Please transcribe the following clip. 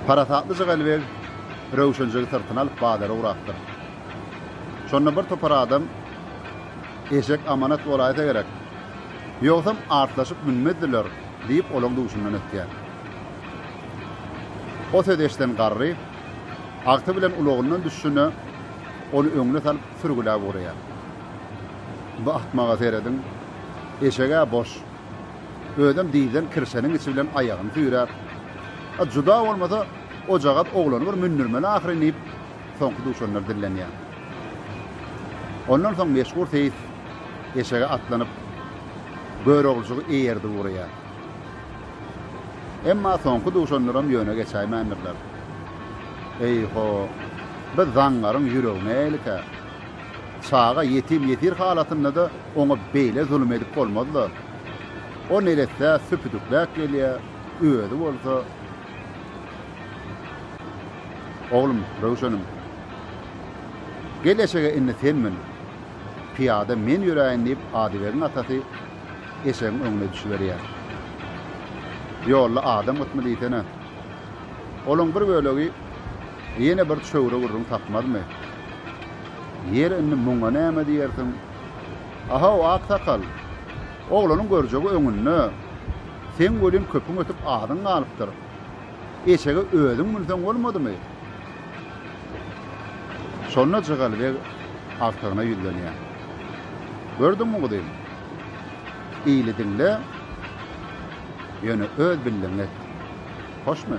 Parasatlyja Gelibeg Röwşenjigi syrtyna alyp bazara ugrapdyr. Şonda bir topar adam Eşek amanat bolaýsa gerek. Ýogsam artlaşyp münmezdiler diýip olaň duşundan ötýär. O sözi eşiden garry agty bilen ulagyndan düşşüne ony öňüne salyp sürgüläp ugraýar. Bu ahmaga serediň. Eşeg-ä boş. Özem dizden kirşeniň içi bilen aýagyny süýräp, A juda bolmasa, ojagaz oglany bir mündürmeli ahyryn diýip, soňky duşanlar dillenýär. Ondan soň meşhur seýis eşege atlanyp, Göroglujygy eýerdip ugraýar. Emma soňky duşanlaram ýöne geçäýmändirler. Eý-ho, biz zaňňaryň ýüregine eýlikä! Çaga ýetim-ýesir halatynda-da oňa beýle zulum edip bolmaz-la. O neresse süpüdükläp gelýär, özi bolsa. Oglum, Röwşenim, gel-eşege indi sen mün. Pyýada men ýöräýin diýip, Adybegiň atasy eşegiň öňüne düşüberýär. Ýolda adam gytmy diýsene. Olaň bir bölegi Ýene bir çöwre gürrüň tapmazmy? Ýeri, indi muňa näme diýersiň? A-haw, aksakal! Oglanyň görjegi öňünde. Seň welin köpüň ötüp azyň galypdyr. Eşege özüň münseň bolmadymy? Şonda Jygaly beg agtygyna ýüzlenýär. Gördüňmi guzym? Ili diňle, ýöne öz bildigiňi et. Hoşmy?